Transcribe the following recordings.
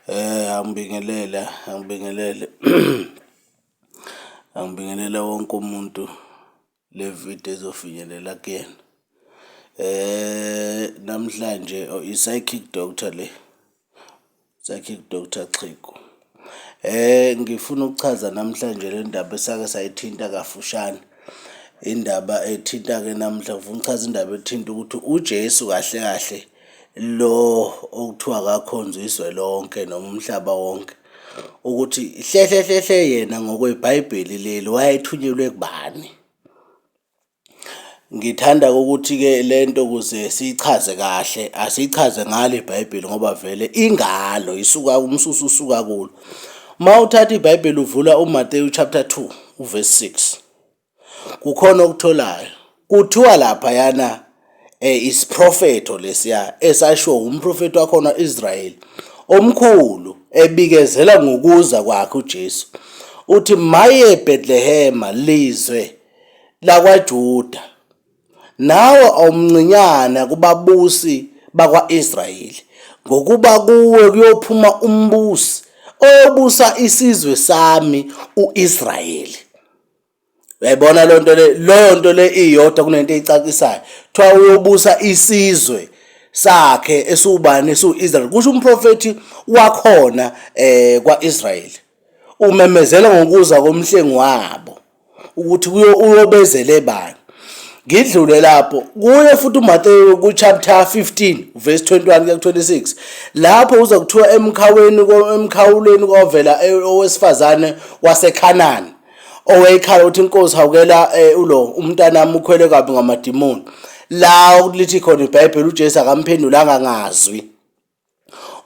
Eh angibingelele angibingelele angibingelele wonke umuntu le video ezofinyelela kuyena. Namhlanje i-psychic doctor le, psychic doctor Xhego. Ngifuna ukuchaza namhlanje le ndaba esake sayithinta kafushane, indaba ethinta-ke namuhla ngifuna ukuchaza indaba ethinta ukuthi uJesu kahle kahle lo okuthiwa akakhonzwa izwe lonke noma umhlaba wonke ukuthi hle hle hle hle yena ngokweBhayibheli leli wayethunyelwe kubani. Ngithanda ukuthi-ke le nto ukuze siyichaze kahle asiyichaze ngalo ibhayibheli ngoba vele ingalo isuka umsusa usuka kulo. Uma uthatha ibhayibheli uvula uMateyu chapter 2 uverse 6 kukhona okutholayo kuthiwa laphayana um isiprofetho lesiya esashiwo wumprofethi wakhona Israyeli omkhulu ebikezela ngokuza kwakhe uJesu. Uthi maye Bethlehema lizwe lakwaJuda, nawe awumncinyana kubabusi bakwa-Israyeli, ngokuba kuwe kuyophuma umbusi oyobusa isizwe sami u-Israyeli. Uyayibona loo nto le leyo nto le iyodwa kunento eyicacisayo kuthiwa uyobusa isizwe sakhe esiwubani esiwu-israyeli kusho umprofethi wakhona um kwa-israyeli umemezela ngokuza komhlengi wabo ukuthi uyobezele bani ngidlule lapho kuye futhi uMateyu kuchapter 15 verse 21 kuya 26 lapho uza kuthiwa emkhaweni emkhawulweni kovela e, owesifazane waseKhanani owayekhala ukuthi inkosi hawukela e, ulo umntanami ukhwele kabi ngamadimoni la lithi khona iBhayibheli uJesu akamphendulanga ngazwi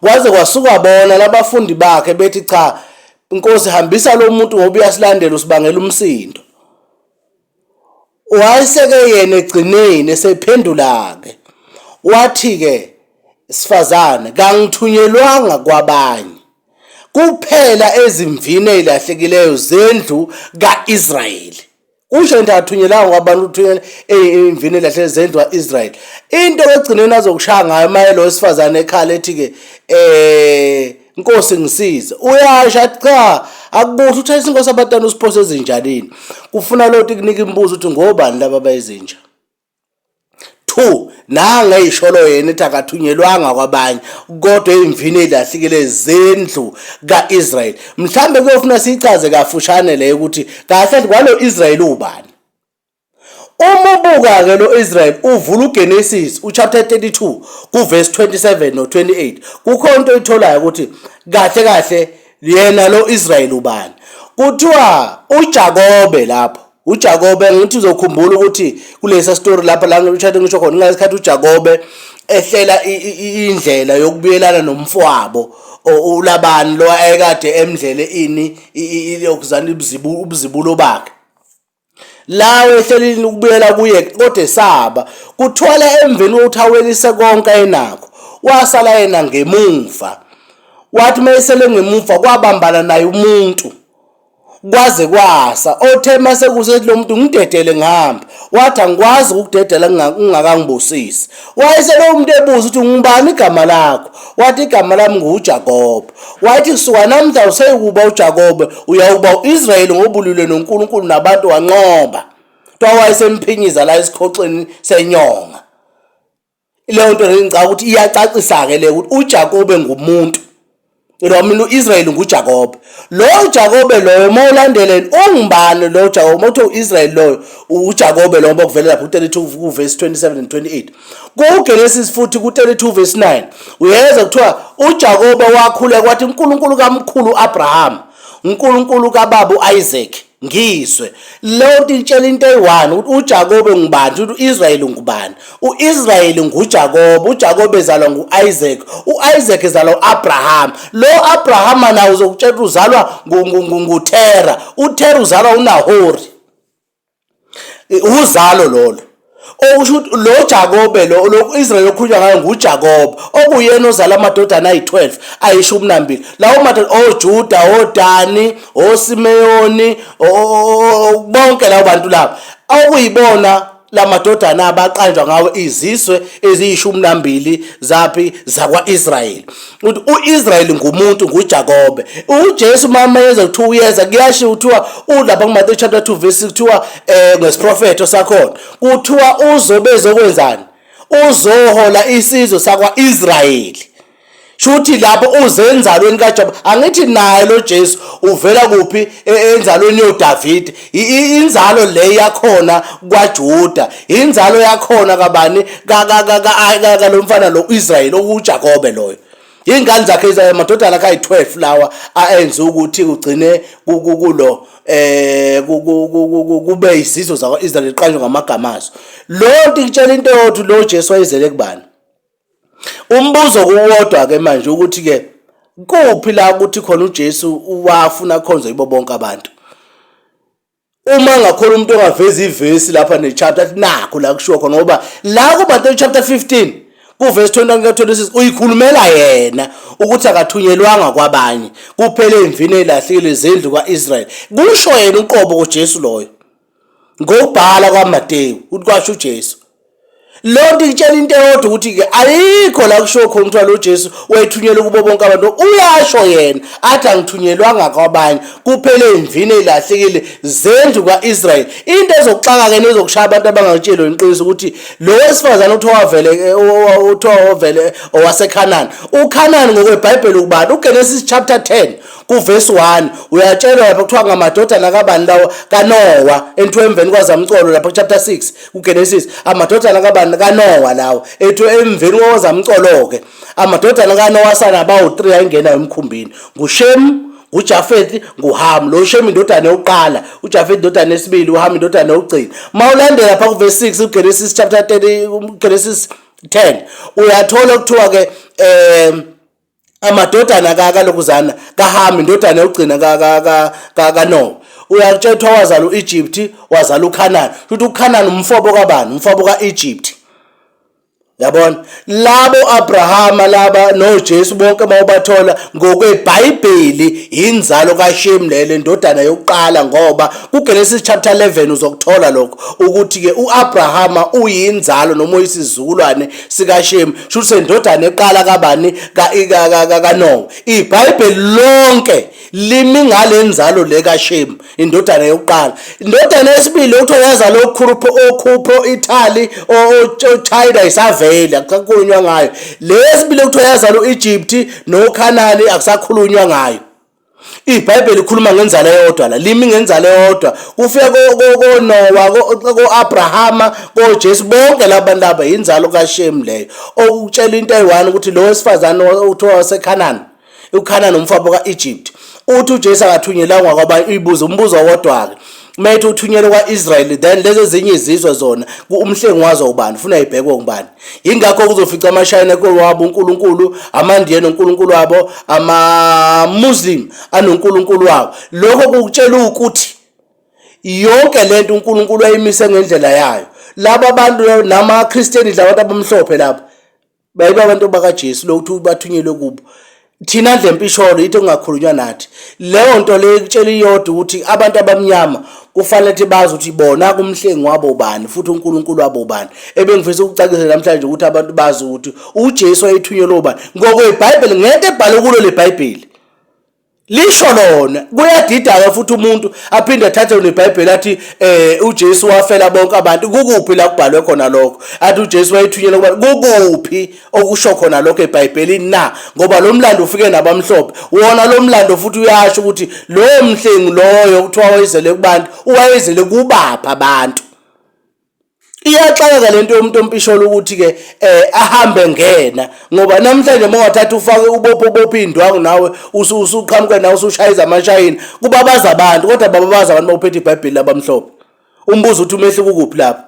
Kwaze kwasuka bona labafundi bakhe bethi cha Nkosi hambisa lo muntu ngoba uyasilandela usibangela umsindo. Wayeseke yena egcineni esephendula-ke wathi-ke sifazane kangithunyelwanga kwabanye kuphela ezimvini ezilahlekileyo zendlu ka-Israyeli. kusho into athunyelanga kwabantu uthunyela imvini elahle zendwa Israel into egcineni azokushaya ngayo maye lo wesifazane ekhala ethi ke eh Nkosi ngisize uyasha cha akubuhle uthayisa inkosi abatana usiphose ezinjanini kufuna loti kunika imibuzo ukuthi ngobani laba bayizinja 2 nanga eyisholo yena ethi akathunyelwanga kwabanye kodwa eyimvini ezilahlekile zendlu kaIsrael mhlambe kuyofuna sichaze kafushane le ukuthi kahle kwalo Israel ubani uma ubuka ke lo Israel uvula uGenesis uchapter 32 kuverse 27 no 28 kukhona into oyitholayo ukuthi kahle kahle yena lo Israel ubani kuthiwa uJakobe lapho uJakobe ngithi uzokhumbula ukuthi kulesa story lapha la ngishade ngisho khona ngesikhathi uJakobe ehlela indlela yokubuyelana nomfwabo ulabani lo ayekade emdlele ini yokuzana ubuzibu ubuzibulo bakhe lawo ehlelini ukubuyela kuye kodwa esaba kuthwala emveni kokuthi awelise konke enakho wasala yena ngemuva wathi mayesele ngemuva kwabambana naye umuntu kwaze kwasa othe mase kusethi lo muntu ngidedele ngihambe wathi angikwazi ukukudedela ngingakangibusisi wayese lowo muntu ebuza ukuthi ngubani igama lakho wathi igama lami ngujakobe wayethi kusuka namhla useyikuba ujakobe uyawuba u-israyeli ngobulule nonkulunkulu nabantu wanqoba kuthiwa wayesemphinyiza la esikhoxeni senyonga Leyo nto leyo ngicabanga ukuthi iyacacisa-ke le ukuthi uJakobe ngumuntu lo mina u-Israyeli nguJakobe lowo Jakobe loyo uma ulandeleni ungubani lowo Jakobe uma kuthiwa u-Israyeli loyo uJakobe lowo uma kuvele lapho u-32 kuvesi 27 and 28 kuGenesis futhi ku-32 verse 9 uyeza kuthiwa uJakobe wakhuleka wathi uNkulunkulu kamkhulu uAbraham uNkulunkulu kababa uIsaac ngizwe leyo nto itshela into eyi-one ukuthi ujakobe ngubani futhi u-israyeli ngubani u-israyeli ngujakobe ujakobe ezalwa ngu-isaac u-isaac ezalwa u-abrahama lo abrahama nawo uzokutshela ukuthi uzalwa ngutera utera uzalwa unahori Uzalo lolo okusho ukuthi lo Jakobe lo lo-Israyeli okhulunywa ngayo nguJakobe okuyena ozala amadodana ayi-12 ayishumi nambili lawo madoda oJuda oDani oSimeyoni bonke labo bantu labo okuyibona la madodana abaqanjwa ngawo izizwe eziyishumi nambili zaphi zakwa-Israyeli ukuthi uIsrael ngumuntu nguJakobe uJesu mama yenza kuthiwa uyeza kuyashiya kuthiwa ulapha kuMathewu chapter 2 verse kuthiwa eh ngesiprofetho sakhona kuthiwa uzobe ezokwenzani uzohola isizwe sakwaIsrael shuthi lapho uzenzalweni kaJobe angithi naye lo Jesu uvela kuphi e, enzalweni yoDavid inzalo le yakhona kwaJuda inzalo yakhona kabani kalo mfana lo Israel okuJakobe loyo ingane zakhe izamadodana akhe ayi-12 lawa aenze ukuthi kugcine kulo eh kube izizwe zakwa-Israel iqanjwe ngamagama azo lo nto ikutshela into yothi lo Jesu wayezele kubani Umbuzo kuwodwa ke manje ukuthi ke kuphi la ukuthi khona uJesu wafuna akhonze yibo bonke abantu uma ngakhona umuntu ongaveza ivesi lapha nechapter athi nakho la kushiwo khona ngoba la kuMateyu chapter 15 kuverse 21 ka-26 uyikhulumela yena ukuthi akathunyelwanga kwabanye kuphele emvini elahlekile zendlu kwa-israyeli kusho yena uqobo kujesu loyo Ngokubhala kwaMateyu ukuthi kwasho uJesu. Leyo nto itshela into eyodwa ukuthi-ke ayikho la kushiwo khona kuthiwa lo Jesu wayethunyelwe kubo bonke abantu. Uyasho yena athi angithunyelwanga kwabanye kuphela ey'mvini ey'lahlekile zendlu kwa-Israyeli. Into ezokuxaka-ke nezokushaya abantu abangakutsheli wena iqiniso ukuthi lo wesifazane uthiwa wavele uthiwa wavele owaseKhanani. UKhanani ngokwebhayibheli ukubani? UGenesis chapter 10 kuvesi 1 uyatshelwa lapha kuthiwa ngamadodana kabani lawo kanowa enthiwa emveni kwazamcolo lapha kuchapter 6 kugenesis amadodana kabani kanowa lawo ethiwa emveni kwazamcolo-ke amadodana kanowa sana bawu-3 ayingenayo emkhumbini ngushemu ngujafethi nguhamu lo shemu indodana yokuqala ujafethi indodana yesibili uhamu indodana yokugcina uma ulandela pha kuvesi 6 ugenesis chapter 30 ugenesis 10 uyathola kuthiwa-ke um amadodana kakalokuzana kahami indodana yokugcina kanowa uyakutshela kuthiwa wazala u-egypt wazala ukhanani futhi ukhanani umfobo kabani umfobo ka-egypt yabona labo abrahama laba nojesu bonke uma ubathola ngokwebhayibheli yinzalo kashemu leyo le ndodana yokuqala ngoba kugenesis chapter 11 uzokuthola lokho ukuthi-ke u-abrahama uyinzalo noma uyisizukulwane sikaShemu shuthi sendodana eqala kabani kaNowa ibhayibheli lonke limi ngalenzalo le kaShemu indodana yokuqala indodana yesibili ukuthi oyazala okhupho okhupho Italy oChina isavele akusakhulunywa ngayo lesibili ukuthi oyazala uEgypt noKhanani akusakhulunywa ngayo IBhayibheli likhuluma ngenzalo eyodwa la limi ngenzalo eyodwa kufika koNowa ko-Abrahama koJesu bonke labantu laba yinzalo kaShemu leyo okutshela into eyi-one ukuthi lo wesifazane uthiwa waseKhanani uKhanani umfabo ka-Egypt uthi uJesu akathunyelangwa kwabanye uyibuza umbuzo wodwa-ke uma ethi uthunyelwe kwa-israyeli then lezi ezinye izizwe zona umhlengi wazo ubani ufuna ibhekwe ngubani yingakho kuzofica amashayina wabo unkulunkulu amandiye nonkulunkulu wabo amamuslim anonkulunkulu wabo lokho kukutshela ukuthi yonke le nto unkulunkulu ayimise ngendlela yayo laba bantu namakhristiyeni labantu abamhlophe laba bayiba abantu bakaJesu lokuthi bathunyelwe kubo thina ndle mpisholo yithi kungakhulunywa nathi leyo nto leyo ikutshela iyodwa ukuthi abantu abamnyama kufanele ukuthi bazi ukuthi bona kumhlengi wabo bani futhi uNkulunkulu wabo bani ebengifisa ukucacisa namhlanje ukuthi abantu bazi ukuthi uJesu wayethunyelwe ubani ngokweBhayibheli ngeke ebhale kulo leBhayibheli lisho lona kuyadida-ke futhi umuntu aphinde athathe nebhayibheli athi um ujesu wafela bonke abantu kukuphi la kubhalwe khona lokho athi ujesu wayethunyelwa kubantu kukuphi okusho khona lokho ebhayibhelini na ngoba lo mlando ufike nabamhlophe wona lo mlando futhi uyasho ukuthi lowo mhlengi loyo kuthiwa wayezele kubantu uwayezele kubaphi abantu iyaxakeka lento yomuntu ompisholo ukuthi ke eh ahambe ngena ngoba namhlanje mawathatha ufake ubopho ubopho indwangu nawe usuqhamuke nawe usushaya izamashayini kubabaza abantu kodwa bababaza abantu bawuphethe iBhayibheli labamhlophe umbuzo uthi umehluko kuphi lapho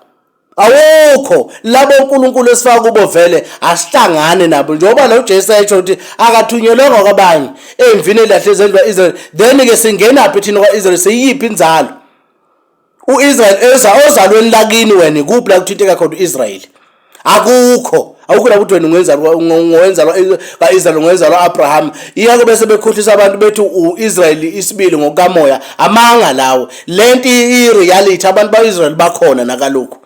awukho labo uNkulunkulu esifaka kubo vele asihlangane nabo njengoba lo Jesu ayesho ukuthi akathunyelwanga kwabanye emvini elahle zendwa Israel then ke singena phi thina kwaIsrael siyiphi inzalo U-Israel eza ozalweni lakini wena ikuphi la kuthinteka khona u-Israel akukho awukho lapho wena ungenzalwa ungowenzalwa kaIsrael ungowenzalwa Abraham iyako bese bekhohlisa abantu bethi uIsrael isibili ngokamoya amanga lawo lento ireality abantu baIsrael bakhona nakalokhu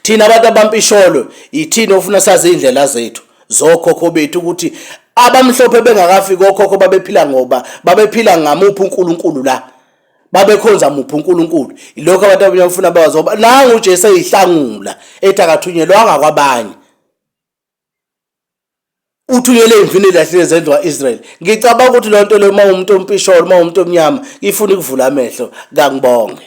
thina abantu abampisholo yithini ofuna sazi indlela zethu zokhokho bethu ukuthi abamhlophe bengakafiki okhokho babephila ngoba babephila ngamuphi uNkulunkulu la babekhonza muphi uNkulunkulu ilokho abantu abanye bafuna bawazi ngoba nangu uJesu eyihlangula ethi akathunyelwanga kwabanye uthunyele imvini elahlile zendlu kaIsrael ngicabanga ukuthi le nto le uma umuntu ompisholo uma umuntu omnyama ifuna ukuvula amehlo kangibonge